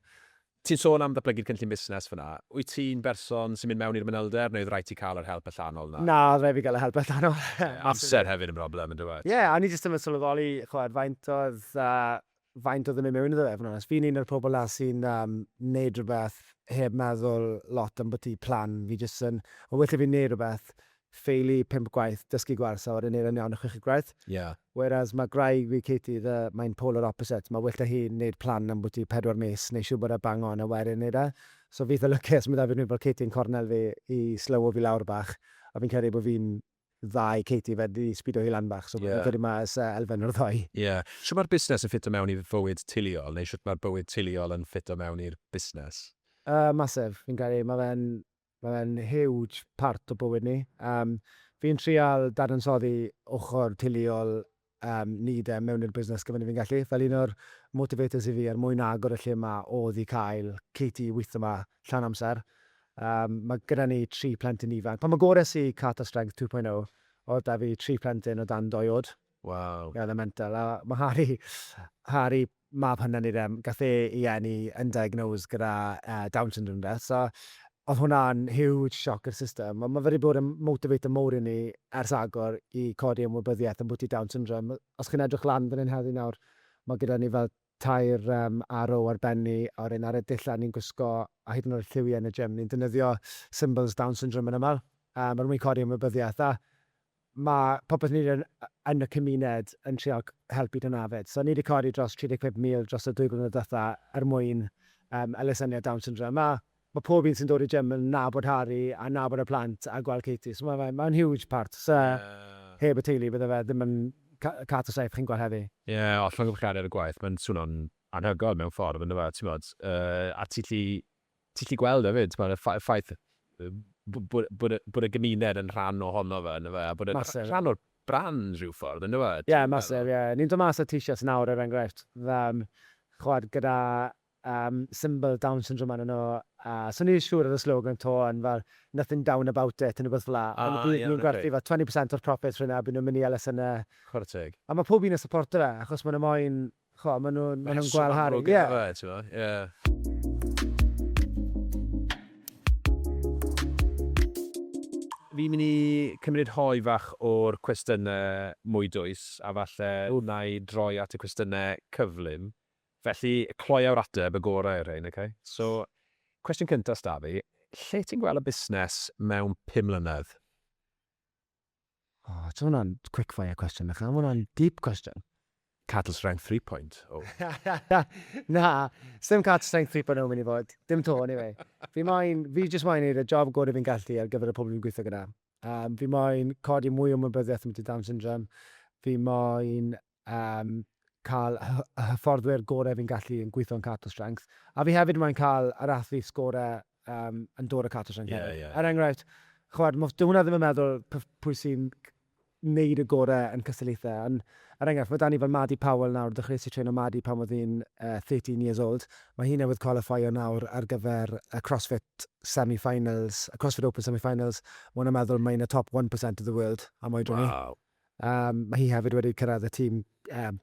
Ti'n sôn am ddatblygu'r cynllun busnes fan'na. Wyt ti'n berson sy'n mynd mewn i'r manylder neu oedd rhaid ti cael yr help allanol 'na? Na, oedd rhaid fi gael y help allanol. Ie, amser hefyd yn broblem yndyw e? Ie, a o'n i jyst ddim yn sylweddoli ch'mod faint oedd yy faint oedd yn mynd mewn iddo fe, fod yn onest. Fi'n un o'r pobl 'na sy'n yym neud rwbeth heb meddwl lot ambwti plan. Fi jyst yn, o well 'da fi neud rwbeth ffeili pump gwaith, dysgu gwers a wedyn neud e'n iawn y chweched gwaith. Ie. Whereas ma' gwraig fi Katie the mae'n polar opposite, ma' well 'da hi neud plan ambwti pedwar mis, neu siwbod a bang on a wedyn neud e. So fi itha lwcus ma' 'da fi rhywun fel Katie yn cornel fi i slywo fi lawr bach, a fi'n credu bo' fi'n dda i Katie fe- i sbido hi lan bach, so fi'n credu ma' oes yy elfen o'r ddou. Ie. Shwt ma'r busnes yn ffito mewn i fywyd teuluol, neu shwt ma'r bywyd teuluol yn ffito mewn i'r busnes? Yy massive, fi'n credu, ma' fe'n Mae'n huge part o bywyd ni. Yym, fi'n trial dadansoddi ochr teuluol yym ni 'de, mewn i'r busnes gymaint a fi'n gallu. Fel un o'r motivators i fi er mwyn agor y lle 'ma odd i cael Katie i weitho 'ma llawn amser. Yym, ma' gyda ni tri plentyn ifanc. Pan agores i Carter Strength 2.0, odd 'da fi tri phlentyn o dan dou oed. Waw. Ie, oedd e'n mental. A ma' Harry, Harry, mab hyna ni de, gath e ei eni yn diagnosed gyda yy Down syndrome de, so oedd hwnna'n huge shock i'r system, ond ma' fe wedi bod yn motivator mowr i ni ers agor i codi ymwybyddiaeth ambwti Down syndrome. Os chi'n edrych lan fan hyn heddi nawr, ma' gyda ni fel tair arrow ar ben ni, a'r un ar y dullan ni'n gwisgo, a hyd yn oed lliwiau yn y gym. Ni'n defnyddio symbols Down Syndrome yn aml, er mwyn codi ymwybyddiaeth, a mae popeth ni'n neud yn y cymuned yn trial helpu dyna 'fyd. So ni 'di codi dros 35,000 dros y dwy flynedd diwetha' er mwyn elusenniad Down Syndrome, a Mae pob un sy'n dod i Jeml yn nabod Harri a nabod y plant a gweld Katie, so mae mae'n huge part. Sa heb y teulu bydde fe ddim yn Cat a Saeth chi'n gweld heddi. Ie, o'r llongyfarchiadau ar y gwaith, mae'n swno'n anhygoel mewn ffordd, yn dyw e, timod, a ti 'llu ti 'llu gweld e 'fyd, timod, y y ffaith bod bod bod y gymuned yn rhan ohono fe, yn dyw e, a bod e'n rhan o'r brand rhyw ffordd, yn dyw e? Ie, massive, ie. Ni'n dod mas â t-shirts nawr, er enghraifft, chimod, gyda Yym symbol down syndrome arnyn nhw a so o'n i ddim siŵr ar y slogan 'to ond fel nothing down about it neu rywbeth fel 'na ond bydden nhw'n gwerthu fel twenty percent o'r profits f'hyn a bydden nhw'n mynd i Ellis yna Chwarae teg. a mae pob un yn syporto fe achos maen nhw moyn chimod maen nhw maen nhw'n gweld Harry ie. Rheswm amlwg iddo fe tibod ie. Fi'n mynd i cymryd rhoi fach o'r cwestiynau mwy dwys a falle wna i droi at y cwestiynau cyflym. Felly, cloiaw'r ateb, y gorau o'r rhain, ok? So, cwestiwn cyntaf s'da fi, lle ti'n gweld y busnes mewn pum mlynedd? O, ti'n hwnna'n quick fire cwestiwn, Michal, mae hwnna'n deep cwestiwn. Cattle strength 3.0. Na, sdim cattle strength 3.0 mynd i fod, dim to, anyway. Fi moyn, fi jyst moyn neud y job gorau fi'n gallu ar gyfer y pobl fi'n gweithio gyda. Um, fi moyn codi mwy o mybyddiaeth am Down syndrome, fi moyn Yym, cael y y hyfforddwyr gorau fi'n gallu yn gweithio yn Cato Strength. A fi hefyd moyn cael yr athletes gorau yym yn dod o Cato Strength hefyd. Ie, ie, ie. Er enghraifft, chimod, mo- dyw hwnna ddim yn meddwl p- pwy sy'n c- wneud y gorau yn cystadlaethau, ond er enghraifft, mae 'da ni fel Maddie Powell nawr, ddechreuais i treno Maddie pan oedd hi'n yy thirteen years old, mae hi newydd qualifio nawr ar gyfer y Crossfit semi-finals, y Crossfit Open semi-finals, ma' hwnna'n meddwl mae hi'n y top one percent of the world am oedran hi. Waw. Mae hi hefyd wedi cyrraedd y tîm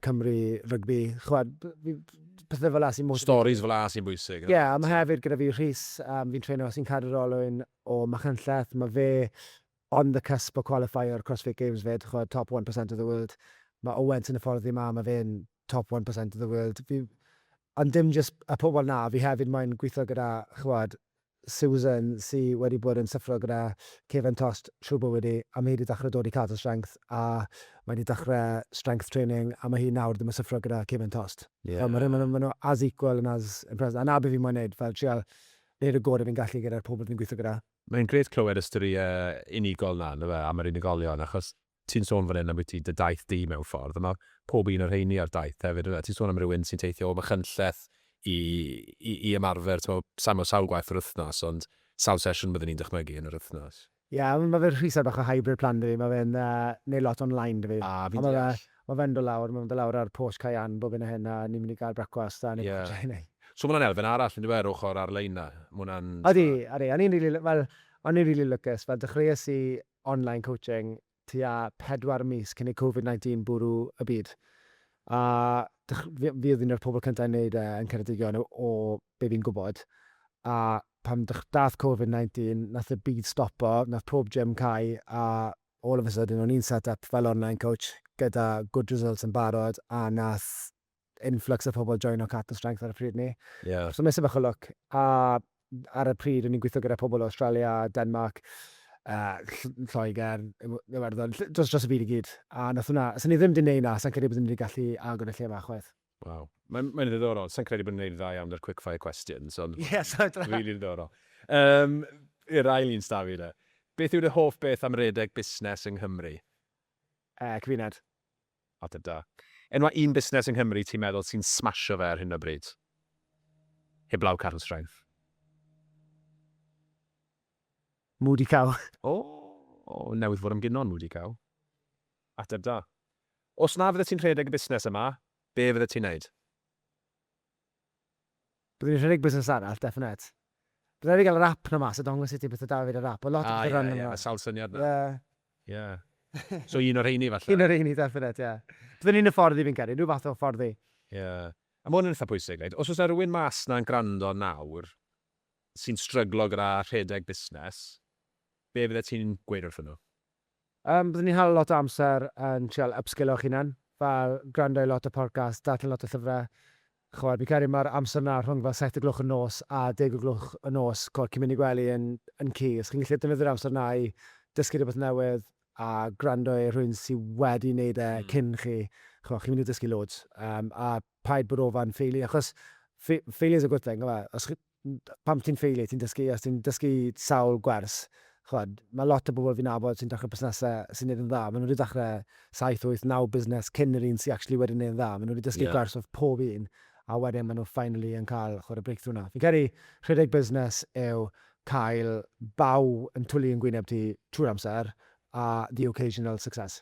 Cymru rygbi. Chimod, pethau fel 'na sy'n motiveitio fi. Storis fel 'na sy'n bwysig. Ie, a mae hefyd gyda fi Rhys, fi'n treino, sy'n cadw'r olwyn o Machynlleth. Mae fe on the cusp o cwalifeio'r Crossfit Games 'fyd, chimod, top one percent of the world. Mae Owens yn hyfforddi yma, mae fe'n top one percent of the world. Fi... Ond dim jyst y pobl 'na, fi hefyd moyn gweithio gyda, chimod, Susan, sy wedi bod yn syffro gyda cefn tost trwy bywyd hi, a mae hi 'di dechrau dod i Cadel Strength, a mae 'di dechrau strength training, a mae hi nawr ddim yn syffro gyda cefn tost. Fel, ma' rhywun, ma' nhw as equal and as impressive, a 'na be' fi moyn neud, fel trial neud y gore fi'n gallu gyda'r pobl fi'n gweithio gyda. Mae'n grêt clywed y storïau unigol 'na, yndyfe, am yr unigolion, achos Ti'n sôn fan hyn ambwyty dy daith di mewn ffordd, a ma' pob un o'r rheiny ar daith hefyd ynde? Ti'n sôn am rywun sy'n teithio o Machynlleth i i i ymarfer t'mo' sai'n me'wl sawl gwaith yr wythnos ond sawl sesiwn bydden i'n dychmygu yn yr wythnos? Ie, ond ma' fe'n rhwystr bach o hybrid plan 'da fi, ma' fe'n yy neud lot online 'da fi. A, fi'n deall. Ond ma' fe, ma' fe'n do' lawr, ma' fe'n do' lawr ar Porth Cayenne bob hyn a hyn a ni'n mynd i ga'l brecwast a Ie. So ma' wnna'n elfen arall yndyw e yr ochor ar-lein 'na? Ma' wnna'n t'mo'... Odi, odi, o'n i'n rili l- wel, o'n i'n rili lwcus, fel dechreues i online coaching tua pedwar mis cyn i Covid 19 bwrw y byd, a fi oedd un o'r pobl cyntaf i wneud e yn Ceredigion o be fi'n gwybod, a pan dath Covid 19 nath y byd stopo, nath pob gym cau a all of a sudden o'n i'n set up fel online coach gyda good results yn barod a nath influx o phobl joino Cath and Strength ar y pryd ni. Yeah. So nes i bach o look, a ar y pryd o'n i'n gweithio gyda pobl o Australia, Denmark, uh, Lloegr, Iwerddon, dros, dros y byd i gyd. A nath hwnna, sy'n ni ddim wedi neud na, sy'n credu bod ni wedi gallu agor y lle yma chwaith. Wow. Mae'n mae ddiddorol. Sa'n credu bod ni'n gwneud dda iawn ar quickfire questions, ond... Yes, Rili really ddiddorol. Um, I'r ail un stafi da. Beth yw'r hoff beth am redeg busnes yng Nghymru? Yy, cymuned. Ateb da. Enwa un busnes yng Nghymru ti'n meddwl sy'n smasho fe ar hyn o bryd? Heblaw Carl Strength. Moody Cow. O! Newydd fod am gino yn Moody Cow. Ateb da. Os na fyddet ti'n rhedeg y busnes yma, be fyddet ti'n neud? Byddwn i'n rhedeg busnes arall, definite. Bydd rhaid fi gael yr app 'na mas a dangos i ti beth o da fi wedi'r app, ond lot o pethau run arno fo. Ie, ie, sawl syniad 'na. Ie. Ie. So un o'r rheini falle? Un o'r rheini, definite, ie. Byddwn i'n hyfforddi fi'n credu, rhyw fath o hyfforddi. Ie. A ma' hwn yn eitha pwysig, reit? Os oes 'na rywun mas 'na'n gwrando nawr sy'n stryglo gyda rhedeg busnes, be fyddet ti'n gweud wrthyn nhw? Yym, byddwn ni'n hala lot o amser yn trial ypsgilio'ch hunan, fel gwrando i lot o podcasts, darllen lot o llyfrau. Chimod, fi'n credu mae'r amser 'na rhwng fel saith o gloch y nos a deg o gloch y nos, chimod, cyn mynd i gwely yn yn key. Os chi'n gallu defnyddio'r amser 'na i dysgu rhywbeth newydd a gwrando i rhywun sy wedi wneud e cyn chi, chimod, chi'n mynd i dysgu loads. Yym, a paid bod o fan ffeili, achos, fail- failure is a good thing, ife? Os chi, pan ti'n ffeilu, ti'n dysgu, os ti'n dysgu sawl gwers, chwad, mae lot o bobl fi'n nabod sy'n dechrau busnesau sy'n neud yn dda, maen nhw wedi dechrau 7, 8, 9 busnes cyn yr un sy'n actually wedi neud yn dda, maen nhw wedi dysgu gwers off pob un, a wedyn maen nhw finally yn cael, chwad, y breakthrough 'na. Fi'n credu rhedeg busnes yw cael baw yn twlu yn gwyneb ti trwy'r amser, a the occasional success.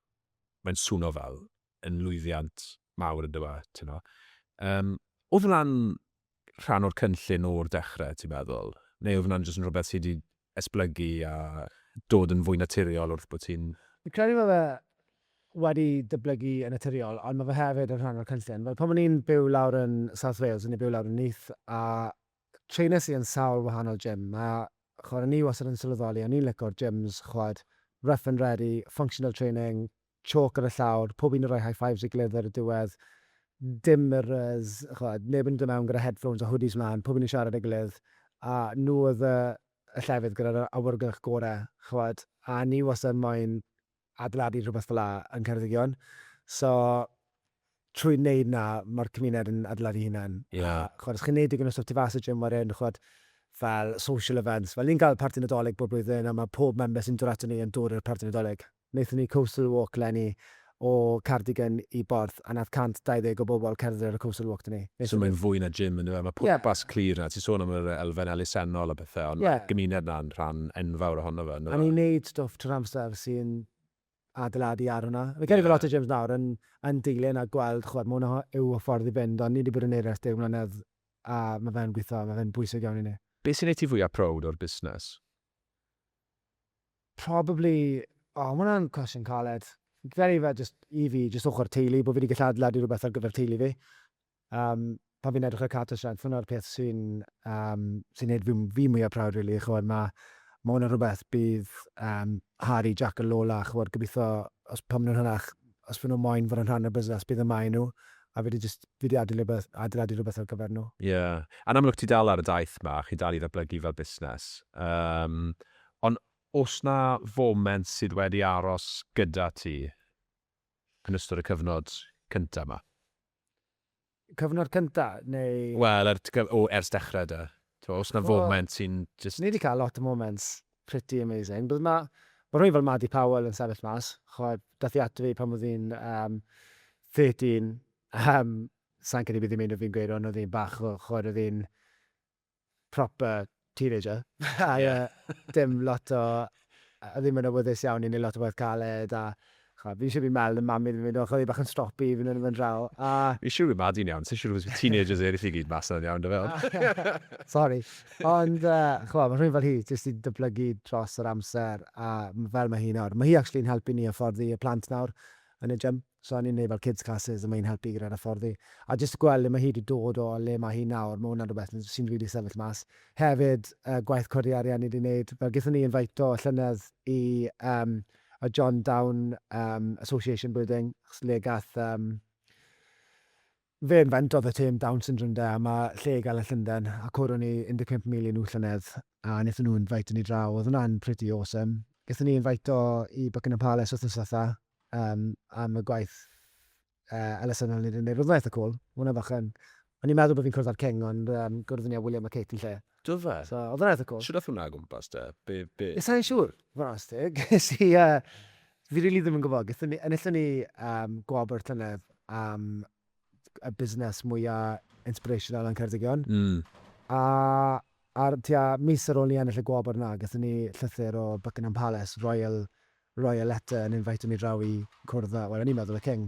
mae'n swno fel yn lwyddiant mawr yndyw e, ti'n gwbod. Yym, oedd hwnna'n rhan o'r cynllun o'r dechrau, ti'n meddwl? Neu oedd hwnna'n jyst yn rhywbeth sy' 'di esblygu a dod yn fwy naturiol wrth bod ti'n... Fi'n credu ma' fe wedi datblygu yn naturiol, ond ma' fe hefyd yn rhan o'r cynllun. Fel pan o'n i'n byw lawr yn South Wales, o'n i'n byw lawr yn Neath, a Trainers i yn sawl wahanol gym, a ch'mod o'n i wastad yn sylweddoli o'n i'n lico'r gyms ch'mod rough and ready, functional training, chalk ar y llawr, pob un yn rhoi high fives ei gilydd ar y diwedd, dim mirrors, ch'mod neb yn dod mewn gyda headphones a hoodies mlan, pob un yn siarad â'i gilydd, a nhw oedd y llefydd gyda'r awyrgylch gore' ch'mod, a o'n i wastad moyn adeiladu rhywbeth fel'a yng Ngheredigion. So, trwy wneud 'na, mae'r cymuned yn adeiladu hunan. A, ch'mod, os chi'n wneud digon o stwff tu fas y gym wedyn, ch'mod, fel social events. Fel, ni'n cael parti Nadolig bob blwyddyn, a mae pob member sy'n dod aton ni yn dod i'r parti Nadolig. Wnaethon ni coastal walk 'leni o Caerdigion i Borth. A nath 120 o bobl cerdded ar y Coastal Walk 'da ni. So mae'n fwy na gym yndyw e? Ma' pwrpas clir 'na. Ti'n sôn am yr elfen elusennol a pethe ond ma'r gymuned 'na'n rhan enfawr ohono fe yndyw e? A ni'n neud stwff trwy'r amser sy'n adeiladu ar hwnna. Fi'n credu bo' lot o gyms nawr yn yn dilyn a gweld ch'mod ma' hwnna yw y ffordd i fynd ond ni 'di bod yn neud e ers deg mlynedd a ma' fe'n gwitho a ma' fe'n bwysig iawn i ni. Be' sy'n neud ti fwya prowd o'r busnes? Probably, o ma hwnna'n cwestiwn caled. Fi'n credu fe jyst, i fi, jyst ochr teulu, bo fi di gallu adeiladu rhywbeth ar gyfer teulu fi. Yym, pan fi'n edrych ar Carter Strength, hwnna'r peth sy'n yym sy'n neud fi fi mwya proud rili, ch'mod ma ma hwnna'n rhywbeth bydd yym Harry, Jac a Lola, ch'mod, gobitho os pan ma nhw'n hirach Os fy nhw moyn fod yn rhan o'r busnes, bydd y maen nhw, a fi 'di jyst, fi 'di adeilio rhywbeth, adeiladu rhywbeth ar gyfer nhw. Ie. Yn amlwg ti dal ar y daith 'ma, chi'n dal i ddatblygu fel busnes. Yym, ond o's 'na foment sydd wedi aros gyda ti yn ystod y cyfnod cynta 'ma? Cyfnod cynta, neu? Wel, er tgwp, o, ers dechrau de. T'mo, os 'na foment sy'n jyst... Ni 'di cael lot o moments pretty amazing, but ma', ma' rhywun fel Maddy Powell yn sefyll mas, ch'mod, daeth hi ato fi pan oedd hi'n yym 13, yym, sai'n credu bydd hi'n meindio fi'n gweud hwn, oedd hi'n bach o, ch'mod, oedd hi'n proper teenager a dim lot o... a ddim yn awyddus iawn i wneud lot o waith caled a chimod, fi'n siŵr bydd Mel yn mamu 'da fi, oedd hi bach yn stroppy i fynd yn fy ndraw a... Fi'n siŵr bydd Madi'n iawn, sa i'n siŵr os bydd teenagers eraill i gyd mas 'na'n iawn 'da fe ond... Sori. Ond chimod, mae rhywun fel hi jyst 'di datblygu dros yr amser a fel mae hi nawr. Mae hi actually'n helpu ni hyfforddi y plant nawr yn y gym. So o'n i'n neud fel kids classes a ma hi'n helpu gyda'r hyfforddi. A jyst gweld le ma hi 'di dod o a le ma hi nawr, ma hwnna'n rwbeth sy'n rili sefyll mas. Hefyd, yy gwaith codi arian ni 'di neud, fel gethon ni infaito llynedd i yym y John Down yym Association Building, achos le gath yym Fe inventodd y term Down Syndrome de, a mae lle i gael yn Llundain, a cwrw ni 15 mil i nhw llynedd, a wnaethon nhw invite ni draw, oedd hwnna'n pretty awesome. Gaethon ni invaito i Buckingham Palace wythnos ddiwetha, yym, am y gwaith yy elusennol o'n ni 'di neud, roedd hwnna'n eitha cwl, ma' hwnna bach yn, o'n i'n meddwl bo' fi'n cwrdd â'r King, ond yym gwrddon ni â William a Kate yn lle. Do fe? So, oedd yn eitha cool. Shwt ath hwnna o gwmpas te? Be, be? Sa i'n siŵr, fod astig. Ges i, uh, fi rili ddim yn gwybod. Gethon ni, enillon ni um, gwobr llynedd am y busnes mwyaf inspirational yn Ceredigion. Mm. A ar tua mis ar ôl ni ennill y gwobr yna, gethon ni llythyr o Buckingham Palace, Royal roi y letter yn invitio mi draw i cwrdd a, wel o'n i'n meddwl y king.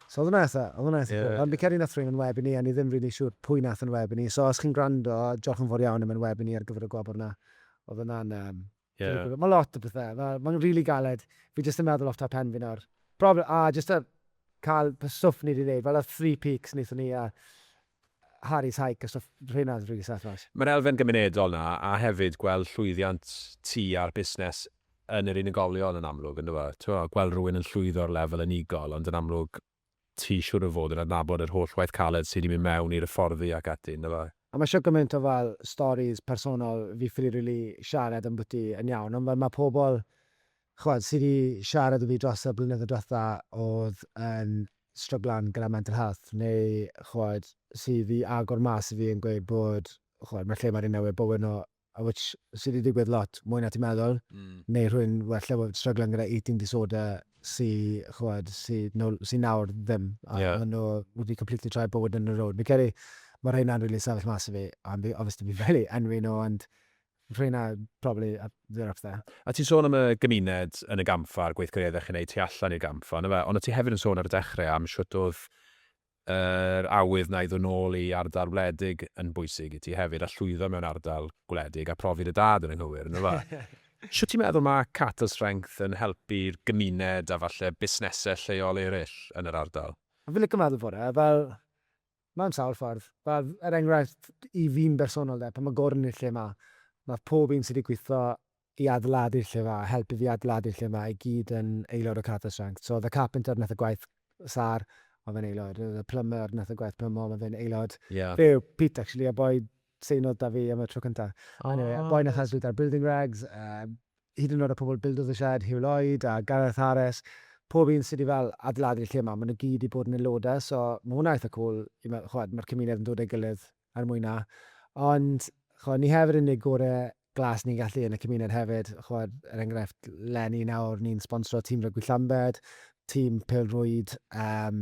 So oedd hwnna eitha, oedd hwnna eitha cool. Ond fi'n credu wnaeth rhywun yn web i ni a ni ddim rili siŵr pwy wnaeth yn web i ni. So os chi'n gwrando, diolch yn fawr iawn am yn web i ni ar gyfer y gwobr yna. Oedd hwnna'n yym... Ie. Mae lot o bethau, mae, mae'n rili galed. Fi jyst yn meddwl off top pen fi nawr. Probably, a jyst y cael, y stwff ni wedi wneud, fel y three peaks wnaethon ni a Harry's Hike a stwff, rheina'n rili serth oes? Mae'r elfen gymunedol 'na, a hefyd gweld llwyddiant ti a'r busnes yn yr unigolion yn amlwg yndyw e? T'mo', gweld rhywun yn llwyddo ar lefel unigol, ond yn amlwg ti siŵr o fod yn adnabod yr holl waith caled sy' 'di mynd mewn i'r hyfforddi ac ati, yndyw e? A mae isio gymaint o fel storis personol, fi ffili rili siarad ambwti yn iawn, ond fel mae pobl, ch'mod, sy' 'di siarad 'da fi dros y blynyddoedd dwetha o'dd yn stryglan gyda mental health neu ch'mod sydd i agor mas i fi yn gweud bod ch'mod ma' lle ma' rhywun newydd bod yno a which sy 'di digwydd lot mwy na ti'n meddwl neu rhywun well efo stryglan gyda eating disorder sy ch'mod sy no- sy nawr ddim a Ie. ma' nhw wedi completely troi bywyd nhw rownd. Fi'n credu ma' rheina'n rili sefyll mas i fi a fi obviously fi'n ffili enwi nhw ond P'un na, probably, a bit of that. A ti'n sôn am y gymuned yn y gampfa a'r gweithgareddau dach chi'n neud tu allan i'r gampfa, on' yfe? Ond o' ti hefyd yn sôn ar y dechre am shwt o'dd yr awydd 'na i ddod nôl i ardal wledig yn bwysig i ti hefyd a llwyddo mewn ardal gwledig a profi dy dad yn anghywir, on' yfe? Shwt ti'n meddwl ma' Catal Strength yn helpu'r gymuned a falle busnese lleol eryll yn yr ardal? Fi'n lico meddwl fod e, fel, Mae'n sawl ffordd. Fel, er enghraifft, i fi'n bersonol de, pan mae Gordon yn y lle 'ma, mae pob un sy 'di gwitho i adeiladu'r lle 'ma, helpu fi adeiladu lle 'ma, i gyd yn aelod o Carter Strength. So, oedd y carpenter wnaeth y gwaith sâr, oedd e'n aelod. Oedd y plumber wnaeth y gwaith plymo, mae fe'n aelod. Ie. Fe yw Pete, actually, y boi seinodd 'da fi am y tro cynta. O! Anyway, y boi wnaeth helpu 'da'r building regs, yy, hyd yn oed y pobl bildodd y sied, Huw Lloyd a Gareth Harris, pob un sy 'di fel adeiladu'r lle 'ma, ma' nhw gyd 'di bod yn aelodau, so ma' hwnna eitha cwl i meddwl, ch'mod, ma'r cymuned yn dod a'i gilydd er mwyn 'na. Ond, ch'mod, ni hefyd yn neud gore glas ni'n gallu yn y cymuned hefyd, ch'mod, er enghraifft, 'leni nawr ni'n sponsro tîm rygbi Llambed, tîm pêl-rwyd yym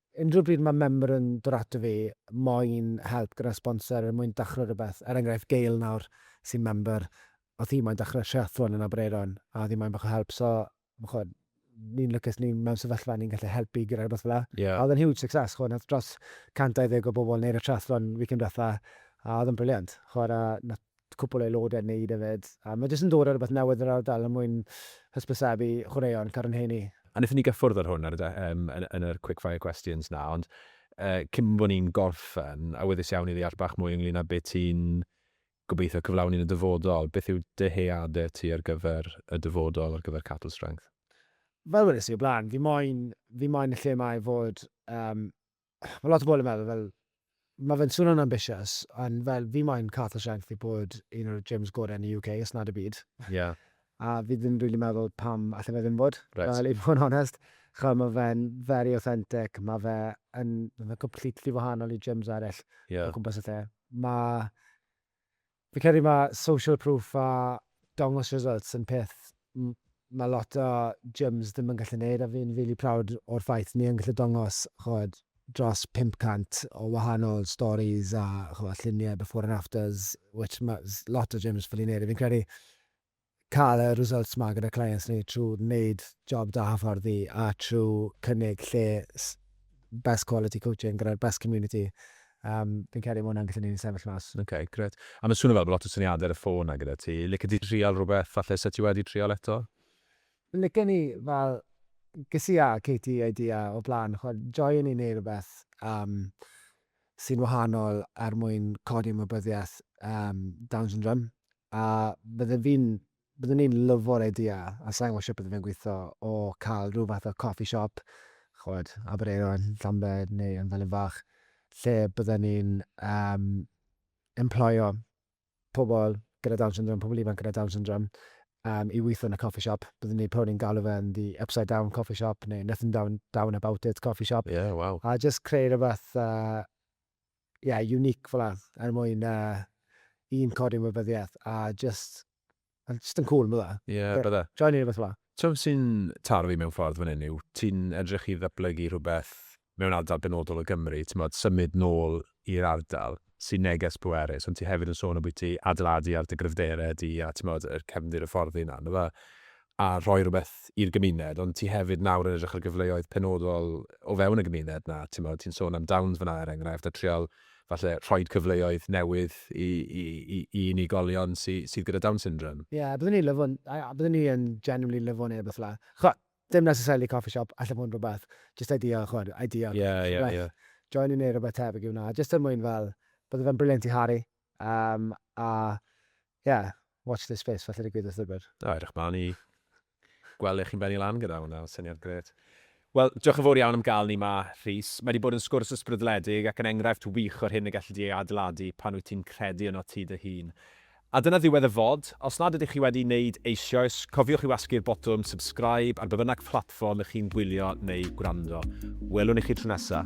Unrhyw bryd mae member yn dod ato fi moyn help gyda sponsor, er mwyn dechrau rhywbeth, er enghraifft Gail nawr sy'n member, oedd hi moyn dechrau triathlon yn Aberaeron a oedd hi moyn bach o help, so chimod, ni'n lwcus ni mewn sefyllfa ni'n gallu helpu gyda rhywbeth fel 'na. A oedd e'n huge success, chimod, wnaeth dros 120 o bobl wneud y triathlon weekend diwetha, a oedd e'n brilliant, chimod, a wnaeth cwpwl o aelodau'n neud yfed, a ma' jyst yn dod â rwbeth newydd i'r ardal er mwyn hysbysebu chwaraeon Carn Henni. A wnaethon ni gyffwrdd ar hwn ar y de- yym yn yn yr quick fire questions 'na, ond yy cyn bo' ni'n gorffen, awyddus iawn i ddeall bach mwy ynglŷn â be' ti'n gobeithio cyflawni yn y dyfodol, beth yw dyheade ti ar gyfer y dyfodol ar gyfer Cattle Strength? Fel wedes i o blaen, fi moyn fi moyn y lle 'ma i fod yym mae lot o bobl yn meddwl fel, mae fe'n swnio'n ambitious, ond fel, fi moyn Cath O'Shank i bod un o'r gyms gorau yn y UK, os nad y byd. Ie. A fi ddim yn rili meddwl pam allai fe ddim fod, fel i fod yn onest. Chimod, mae fe'n very authentic, mae fe yn, mae fe'n completely wahanol i gyms eraill o gwmpas y lle. Mae, Fi'n credu mae social proof a dangos results yn peth mae lot o gyms ddim yn gallu neud a fi'n rili proud o'r ffaith ni yn gallu dangos ch'od dros 500 o wahanol stories a ch'mo' lluniau before and afters which mae lot o gyms ffili neud a fi'n credu cael y results 'ma gyda clients ni trwy wneud job da hyfforddi a trwy cynnig lle best quality coaching gyda'r best community, yym, fi'n credu ma' hwnna'n gallu neud ni sefyll mas. Ok, grêt. A ma' swnio fel bod lot o syniadau ar y ffôn 'na gyda ti. Licet ti trial rhywbeth falle 'set ti wedi trial eto? Licen i, fel, ges i a Katie idea o'r blaen, ch'mod, joio i neud rhywbeth yym sy'n wahanol er mwyn codi ymwybyddiaeth yym Down Syndrome a bydden fi'n... byddwn i'n lyfo'r idea, a sa i'n gwybod sut bydde fe'n gweithio, o cael rhyw fath o coffee shop, chimod, Aberaeron, Llambed neu yn Felin Fach, lle bydden ni'n yym emploio pobl gyda Down Syndrome, pobl ifanc gyda Down Syndrome, yym i weithio yn y coffee shop. Bydden ni probably yn galw fe'n The Upside Down Coffee Shop neu Nothing Down Down About It Coffee Shop... Ie, waw. ...a jyst creu rhyw fath yy ie, unique fel 'na, er mwyn yy un, codi ymwybyddiaeth, a jyst, ma' jyst yn cŵl, bydde? Ie, bydde. Joio neud rwbeth fel 'na. T'mo' be' sy'n taro fi mewn ffordd fan 'yn yw, ti'n edrych i ddatblygu rhwbeth mewn ardal benodol o Gymru, t'mod, symud nôl i'r ardal sy'n neges pwerus, ond ti hefyd yn sôn ambwyty adeiladu ar dy gryfdere di a t'mod, y cefndir y fforddi 'na, on' yfe? a rhoi rhywbeth i'r gymuned, ond ti hefyd nawr yn edrych ar gyfleoedd penodol o fewn y gymuned 'na, ti'mod, ti'n sôn am Downs fan'na er enghraifft, a trial falle rhoid cyfleoedd newydd i i i i unigolion sy sydd gyda Down syndrome. Ie, yeah, byddwn i'n lyfo, byddwn i yn genuinely lyfo neu rywbeth fela. Ch'mod, dim necessarily coffee shop, alle fod yn rhywbeth, jyst idea, ch'mod, idea. Ie, ie, ie. Join i neu' rhywbeth tebyg i wnna, jyst er mwyn fel, bydde fe'n brilliant i Harry, Yym a ie, watch this space, falle digwydd wrth ddwbr. O, edrych mlaen i gweld lle chi'n bennu lan gyda hwnna, mae'n syniad grêt. Wel, diolch yn fawr iawn am gael ni 'ma, Rhys. Mae 'di bod yn sgwrs ysbrydledig ac yn enghraifft wych o'r hyn y gelli di ei adeiladu pan wyt ti'n credu yno ti dy hun. A dyna ddiwedd y fod. Os nad ydych chi wedi wneud eisioes, cofiwch i wasgu'r botwm subscribe ar be bynnag platfform y'ch chi'n gwylio neu gwrando. Welwn i chi tro nesa.